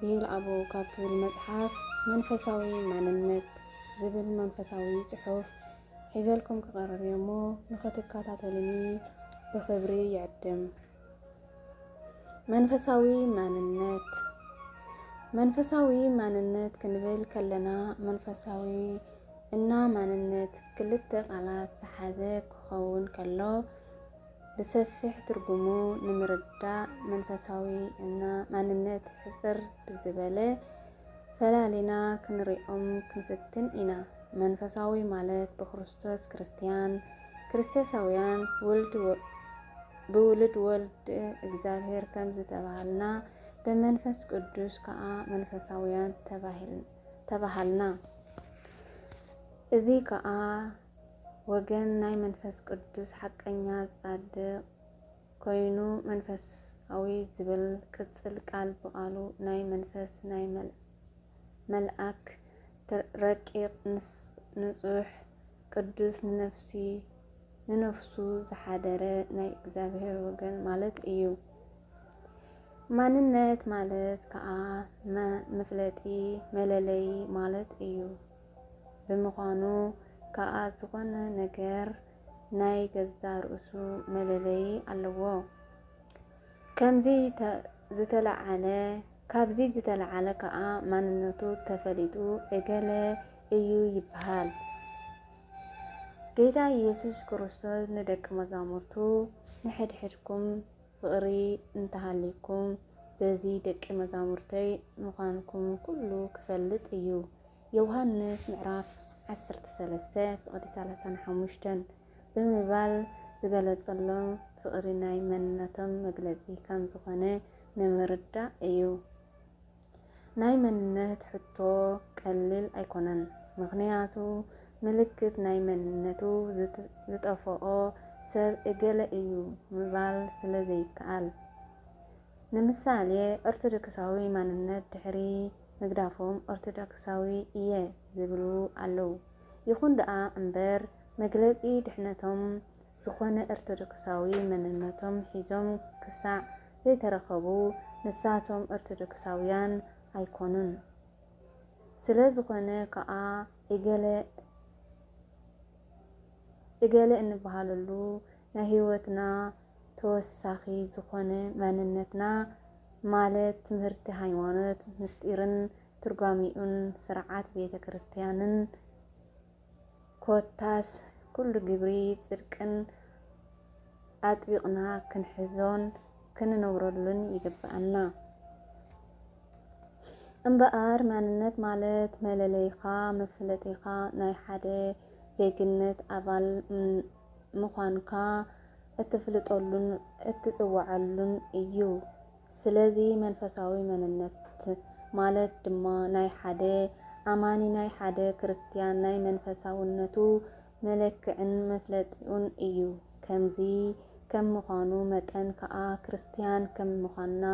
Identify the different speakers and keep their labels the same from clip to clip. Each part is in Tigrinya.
Speaker 1: ቤልኣቦ ካብ ትብል መጽሓፍ መንፈሳዊ ማንነት ዝብል መንፈሳዊ ጽሑፍ ሒዘልኩም ክቐርብ እየ እሞ ንኽትከታተሉኒ ብኽብሪ ይዕድም። መንፈሳዊ ማንነት መንፈሳዊ ማንነት ክንብል ከለና መንፈሳዊ እና ማንነት ክልተ ቃላት ዝሓዘ ክኸውን ከሎ ብሰፊሕ ትርጉሙ ንምርዳእ መንፈሳዊ እና ማንነት ሕጽር ብዝበለ ፈላሊና ክንሪኦም ክንፍትን ኢና። መንፈሳዊ ማለት ብክርስቶስ ክርስትያን፣ ክርስቶሳውያን ውልድ ብውልድ ወልድ እግዚኣብሔር ከም ዝተባሃልና ብመንፈስ ቅዱስ ከዓ መንፈሳውያን ተባሃልና። እዚ ከዓ ወገን ናይ መንፈስ ቅዱስ ሓቀኛ ጻድቕ ኮይኑ መንፈሳዊ ዝብል ቅጽል ቃል ብቓሉ ናይ መንፈስ ናይ መልኣክ ረቂቕ ንጹሕ ቅዱስ ንነፍሲ ንነፍሱ ዝሓደረ ናይ እግዚኣብሔር ወገን ማለት እዩ። ማንነት ማለት ከዓ መፍለጢ መለለይ ማለት እዩ። ብምዃኑ ከኣ ዝኾነ ነገር ናይ ገዛ ርእሱ መለለዪ ኣለዎ። ከምዚ ዝተለዓለ ካብዚ ዝተለዓለ ከኣ ማንነቱ ተፈሊጡ እገለ እዩ ይበሃል። ጌታ ኢየሱስ ክርስቶስ ንደቂ መዛሙርቱ ንሕድሕድኩም ፍቕሪ እንተሃልይኩም በዚ ደቂ መዛሙርተይ ምዃንኩም ኩሉ ክፈልጥ እዩ። ዮውሃንስ ምዕራፍ ዓሰርተ ሰለስተ ፍቕዲ ሰላሳን ሓሙሽተን ብምባል ዝገለጸሎም ፍቕሪ ናይ መንነቶም መግለጺ ከም ዝኾነ ንምርዳእ እዩ። ናይ መንነት ሕቶ ቀሊል ኣይኮነን ምኽንያቱ ምልክት ናይ መንነቱ ዝጠፈኦ ሰብ እገለ እዩ ምባል ስለ ዘይከኣል። ንምሳሌ ኦርቶዶክሳዊ ማንነት ድሕሪ ምግዳፎም ኦርቶዶክሳዊ እየ ዝብሉ ኣለው። ይኹን ደኣ እምበር መግለጺ ድሕነቶም ዝኾነ ኦርቶዶክሳዊ መንነቶም ሒዞም ክሳዕ ዘይተረከቡ ንሳቶም ኦርቶዶክሳውያን ኣይኮኑን ስለዝኾነ ከኣ እገለ እገለ እንበሃለሉ ናይ ህይወትና ተወሳኺ ዝኾነ ማንነትና ማለት ትምህርቲ ሃይማኖት ምስጢርን ትርጓሚኡን ስርዓት ቤተ ክርስቲያንን ኮታስ ኩሉ ግብሪ ጽድቅን ኣጥቢቕና ክንሕዞን ክንነብረሉን ይግብኣና። እምበኣር ማንነት ማለት መለለይኻ መፍለጢኻ ናይ ሓደ ዜግነት ኣባል ምዃንካ እትፍልጠሉን እትፅወዓሉን እዩ። ስለዚ መንፈሳዊ መንነት ማለት ድማ ናይ ሓደ ኣማኒ ናይ ሓደ ክርስትያን ናይ መንፈሳውነቱ መለክዕን መፍለጢኡን እዩ። ከምዚ ከም ምዃኑ መጠን ከኣ ክርስትያን ከም ምዃንና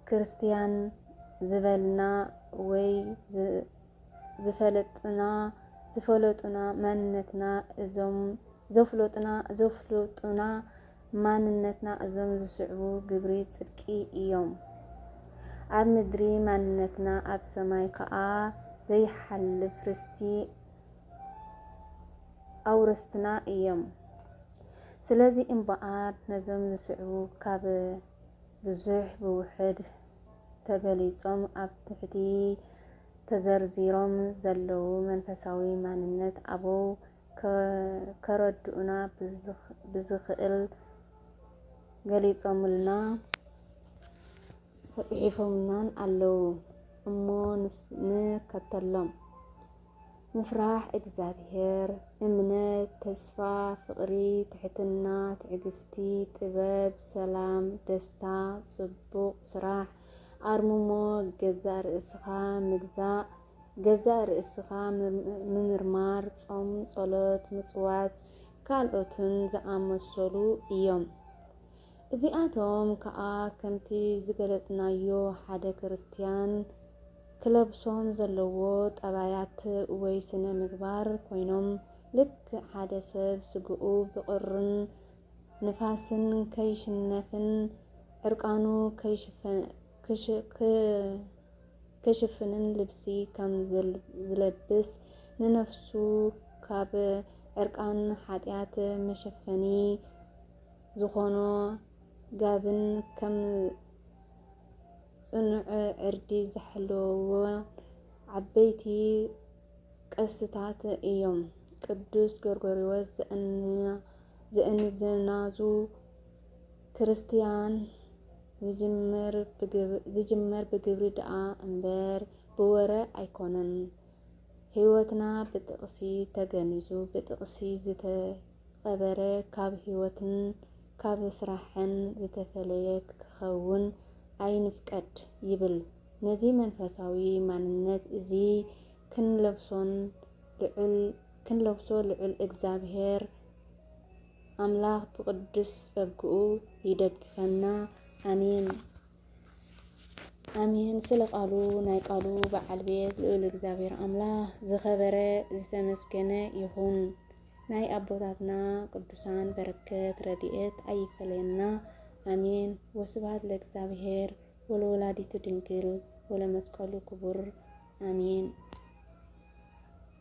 Speaker 1: ክርስትያን ዝበልና ወይ ዝፈለጥና ዝፈለጡና መንነትና እዞም ዘፍለጡና ዘፍለጡና ማንነትና እዞም ዝስዕቡ ግብሪ ጽድቂ እዮም። ኣብ ምድሪ ማንነትና ኣብ ሰማይ ከኣ ዘይሓልፍ ርስቲ ኣውረስትና እዮም። ስለዚ እምበኣር ነዞም ዝስዕቡ ካብ ብዙሕ ብውሕድ ተገሊጾም ኣብ ትሕቲ ተዘርዚሮም ዘለዉ መንፈሳዊ ማንነት ኣበው ከረድኡና ብዝኽእል ገሊፆምልናን ተፅሒፎምልናን ኣለው እሞ ንከተሎም። ምፍራሕ እግዚኣብሔር፣ እምነት፣ ተስፋ፣ ፍቕሪ፣ ትሕትና፣ ትዕግስቲ፣ ጥበብ፣ ሰላም፣ ደስታ፣ ጽቡቕ ስራሕ፣ ኣርምሞ፣ ገዛእ ርእስኻ ምግዛእ፣ ገዛእ ርእስኻ ምምርማር፣ ጾም፣ ጸሎት፣ ምጽዋት፣ ካልኦትን ዝኣመሰሉ እዮም። እዚኣቶም ከኣ ከምቲ ዝገለጽናዮ ሓደ ክርስትያን ክለብሶም ዘለዎ ጠባያት ወይ ስነ ምግባር ኮይኖም ልክዕ ሓደ ሰብ ስግኡ ብቑርን ንፋስን ከይሽነፍን ዕርቃኑ ክሽፈ ክሽፍንን ልብሲ ከም ዝለብስ ንነፍሱ ካብ ዕርቃን ሓጢኣት መሸፈኒ ዝኾኖ ጋብን ከም ጽኑዕ ዕርዲ ዝሓለዎ ዓበይቲ ቅርስታት እዮም። ቅዱስ ጎርጎርዮስ ዘእንያ ዝእንዝናዙ ክርስትያን ዝጅመር ብግብሪ ደኣ እምበር ብወረ ኣይኮነን። ህይወትና ብጥቕሲ ተገኒዙ ብጥቕሲ ዝተቐበረ ካብ ህይወትን ካብ ስራሕን ዝተፈለየ ክኸውን ኣይንፍቀድ ይብል። ነዚ መንፈሳዊ ማንነት እዚ ክንለብሶን ልዑል ክንለብሶ ልዑል እግዛብሄር ኣምላኽ ብቅዱስ ጸግኡ ይደግፈና ኣሜን ኣሜን። ስለ ቃሉ ናይ ቃሉ በዓል ቤት ልዑል እግዚኣብሔር ኣምላኽ ዝኸበረ ዝተመስገነ ይኹን። ናይ ኣቦታትና ቅዱሳን በረከት ረድኤት ኣይፈለየና ኣሜን። ወስብሐት ለእግዚኣብሔር ወለወላዲቱ ድንግል ወለመስቀሉ ክቡር ኣሜን።